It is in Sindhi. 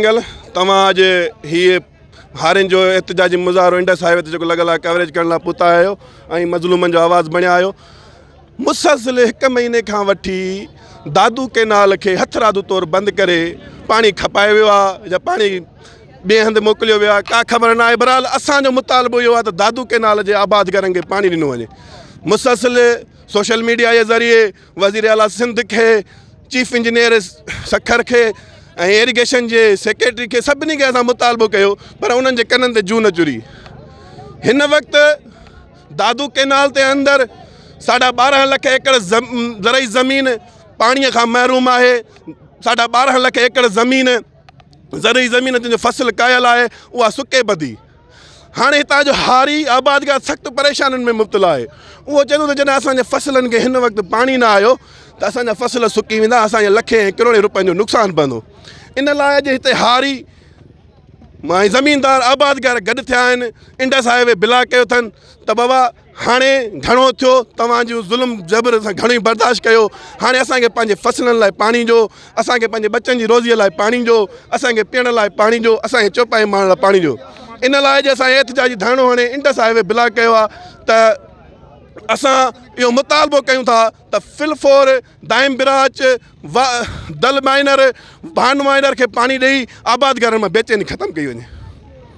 ننگل توهان اڄ هي هارين جو احتجاجي مظاهرو انڊس هاء وي تي جيڪو لڳل آهي ڪوريج ڪرڻ لاء پتا آهيو ۽ مظلومن جو آواز بڻيا آهيو مسلسل هڪ مهيني کان وٺي دادو ڪينال کي هٿ رادو طور بند ڪري پاڻي کپائي ويو آهي يا پاڻي ٻئي هنڌ موڪليو ويو آهي ڪا خبر نه آهي بهرحال اسان جو مطالبو اهو آهي ته دادو ڪينال جي آبادگارن کي پاڻي ڏنو وڃي مسلسل سوشل ميڊيا جي ذريعي وزير اعليٰ سنڌ کي چيف انجنيئر سکر کي ۽ ايريگيشن جي سيڪريٽري کي سڀني کي اسان مطالبو ڪيو پر انهن جي ڪنن تي جون نه چري هن وقت دادو ڪينال تي اندر ساڍا ٻارهن لک ايڪڙ زرعي زمين پاڻي کان محروم آهي ساڍا ٻارهن لک ايڪڙ زمين زرعي زمين جن جو فصل ڪايل آهي اها سڪي ٻڌي هاڻي هتان جو هاري آبادگار سخت پريشانين ۾ مبتلا آهي اهو چئي ٿو ته جڏهن اسان جي فصلن کي هن وقت پاڻي نه آيو ته اسان جا فصل سڪي ويندا اسان جي لکين ۽ ڪروڙين روپين جو نقصان پوندو ان لاء اڄ هتي هاري مان زميندار آبادگار گڏ ٿيا آهن انڊس هاء وي بلاڪ ڪيو اٿن ته بابا هاڻي گهڻو ٿيو توهان جون ظلم جبر اسان گهڻو ئي برداشت ڪيو هاڻي اسان کي پنهنجي فصلن لاء پاڻي ڏيو اسان کي پنهنجي ٻچن جي روزيء لاء پاڻي ڏيو اسان کي پيئڻ لاء پاڻي ڏيو اسان کي چوپايي ماڻهن لاء پاڻي ڏيو ان لاء اڄ اسان احتجاجي ڌرڻو هڻي انڊس هاء وي بلاڪ ڪيو آهي ته اسان اهو مطالبو ڪيون ٿا ته فلفور دائم براچ و دل مائنر بان مائنر کي پاڻي ڏئي آباد گارن مان بيچيني ختم ڪئي وڃي